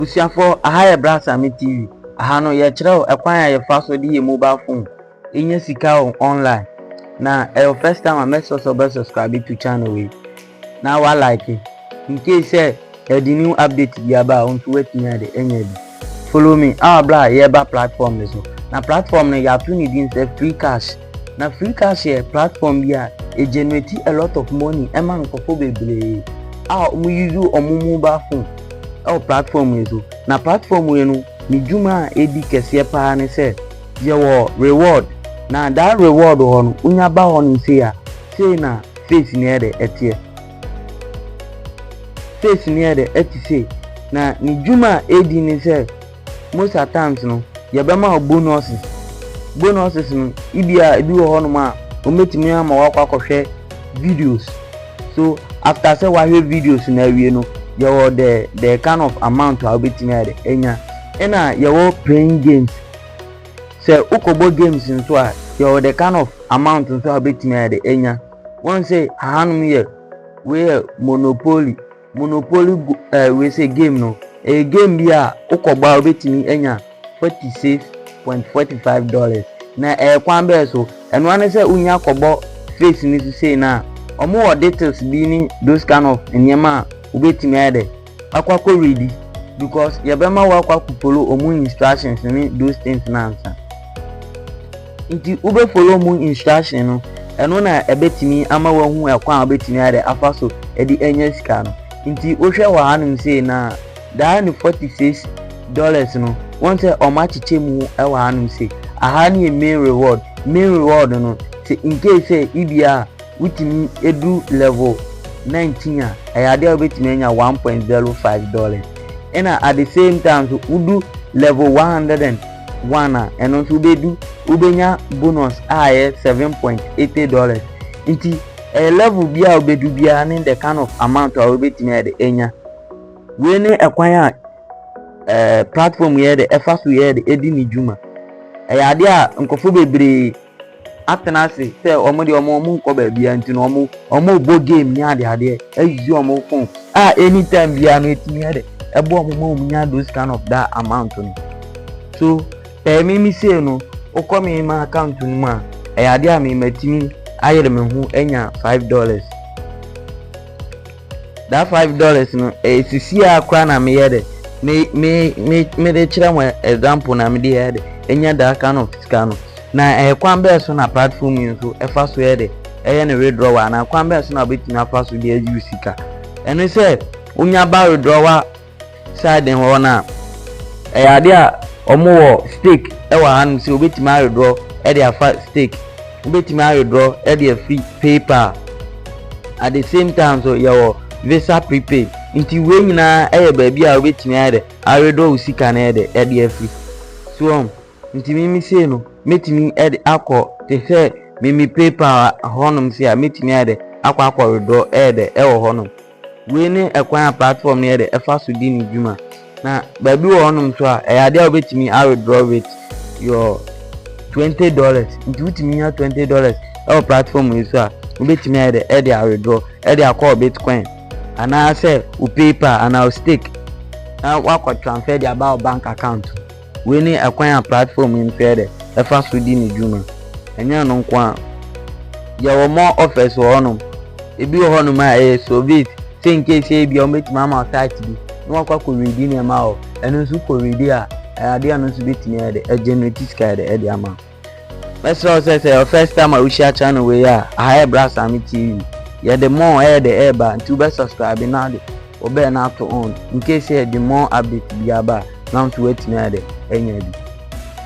Abusuafoɔ, aha yɛ Brasame TV. Aha no, yɛkyerɛ wo ɛkwan a yɛfa so de yɛ mobile phone nya sika wɔ online. Na ɛyɛ wo first time a, make sure sɛ wobɛ subscribe to channel wei na wa like. In case sɛ yɛde new update bi aba a, wo nso woatumi ade anya bi. Follow me, awa berɛ a yɛba platform no so. Na platform no, yɛato ne din sɛ Free Cash. Na Freecast yɛ platform bi a e generate a lot of money ma nkorɔfoɔ bebree a wɔn use wɔn mobile phone wɔ platform wei so. Na platform wei no ne dwuma a edi kɛseɛ paa ne sɛ yɛwɔ reward na that reward hɔ no wonya ba hɔ nom sei a sei na face no yɛ dɛ ɛteɛ. Face no yɛ dɛ ɛte sei na ne dwuma a edi ne sɛ. Most at times no yɛbɛma wo bonuses, bonuses no ebia ebi wɔ hɔnom a wɔbɛtumi ama wakɔ akɔhwɛ videos, so after sɛ wahwɛ videos no awie no yɛwɔ the the kind of amount a wobɛtumi ayɛ dɛ anya, ɛna yɛwɔ playing games, sɛ wokɔbɔ games nso a yɛwɔ the kind of amount nso a wobɛtumi ayɛ dɛ anya, wɔn sɛ ahanom yɛ wei yɛ monopoly. Monopoly go ɛɛ wei sɛ game no ɛyɛ game bi a wokɔbɔ a wobɛtumi anya forty six point forty five dollars na ɛyɛ kwan bɛɛ so ɛno ara ne sɛ wonya kɔbɔ face no so sei no a wɔn wɔ details bi ne those kind of nneɛma a wobɛtumi ayɛ dɛ akɔ akɔ ready because yɛbɛma wo akɔ akɔ follow wɔn instructions ne those things no ansa. Ntsi wobɛ follow mu instruction no, ɛno na ɛbɛtumi ama woahu kwan a wobɛtumi ayɛ dɛ afa so de anya sika no. Ntsi wohwɛ wɔ hanom sei no a, daa ne forty six dollars no, woahu sɛ wɔakyekyɛ mu wɔ hanom sei. Aha no yɛ main reward. Main reward no, sɛ in case sɛ ebia wotumi du level nineteen a, ɛyɛ adeɛ a wobɛtumi anya one point zero five dollars. Ɛna at the same time nso, wodu level one hundred and. one a ɛno nso wobɛdu wobɛnya bonus a ɛyɛ seven point eighty dollars nti ɛyɛ level bi a wobɛdu biara ne the kind of amount a wobɛtumi ayɛ de anya wei ne ɛkwan a ɛɛ platform yɛ de ɛfa so yɛ de ɛdi ne dwuma ɛyɛ adeɛ a nkurɔfoɔ bebree atena ase sɛ wɔn deɛ wɔn wɔn nkɔ baabiara nti no wɔn wɔbɔ game ne adeadeɛ ayi wɔn phone a anytime biara no etumi yɛ dɛ ɛbɔ wɔn ma wɔn nya those kind of that amount no so ɛyɛ me me sei no wokɔ me ma account no mu a ɛyɛ adeɛ a me matumi ayere me ho anya five dollars. That five dollars no ɛyɛ sisi a koraa na meyɛ dɛ me me me mede kyerɛ mo example na mede yɛ dɛ enya that kind of sika no na ɛyɛ kwan bɛyɛ so na platform yi nso ɛfa so yɛ dɛ ɛyɛ ne withdrawal anaa kwan bɛyɛ so na wobɛtumi afa so de ayi sika ɛno sɛ wonya ba withdrawal Side hɔ no a, ɛyɛ adeɛ a wɔwɔ stake wɔ hanom sɛ wobɛtumi awedraw de afa stake. Wobɛtumi awedraw de afiri PayPal. At the same time nso yɛwɔ Visa prepaid. Nti wei nyinaa yɛ baabi a wobɛtumi ayɛ dɛ awedraw wo sika no yɛ dɛ de afiri. So wɔn nti mimi sei no mɛtumi de akɔ te sɛ mimi PayPal hɔnom sei a mɛtumi ayɛ dɛ akɔ akɔ wedraw yɛ dɛ wɔ hɔnom. Wei ne ɛkwan a platform no yɛ dɛ ɛfa so di ne dwuma. Na baabi wɔ hɔnom nso a ɛyɛ adeɛ a wobɛtumi a withdraw with your twenty dollars. Nti wotumi nya twenty dollars ɛwɔ platform wei so a wobɛtumi ayɛ dɛ ɛde a withdraw ɛde akɔ wɔ bitcoin anaasɛ wo paypal anaa wo stake na woakɔ transfer de aba wo bank account mu. Wei ne ɛkwan a platform yi mpɛɛ dɛ ɛfa so di ne dwuma. Ɛnyɛ ɛno nko ara, yɛwɔ more offers wɔ hɔnom. Ebi wɔ hɔnom a ɛyɛ SOVIT, sɛ in case sɛ ebia wɔbɛtumi ama wo site bi na woakɔ akɔ readi nneɛma wɔ hɔ, ɛno nso wokɔ readi a, ɛyɛ adeɛ a ɛno nso bɛtumi ayɛ dɛ, a generate sika ayɛ dɛ de ama wo. Mɛsrɛ wo sɛ sɛ yɛ first time a wohyia channel wei a, aha yɛ Brasame TV. Yɛde more ɛyɛ de ɛreba nti wobɛ subscribe na de wo bell no ato on in case sɛ yɛde more update bi aba a na wo nso woatumi ayɛ de anya bi.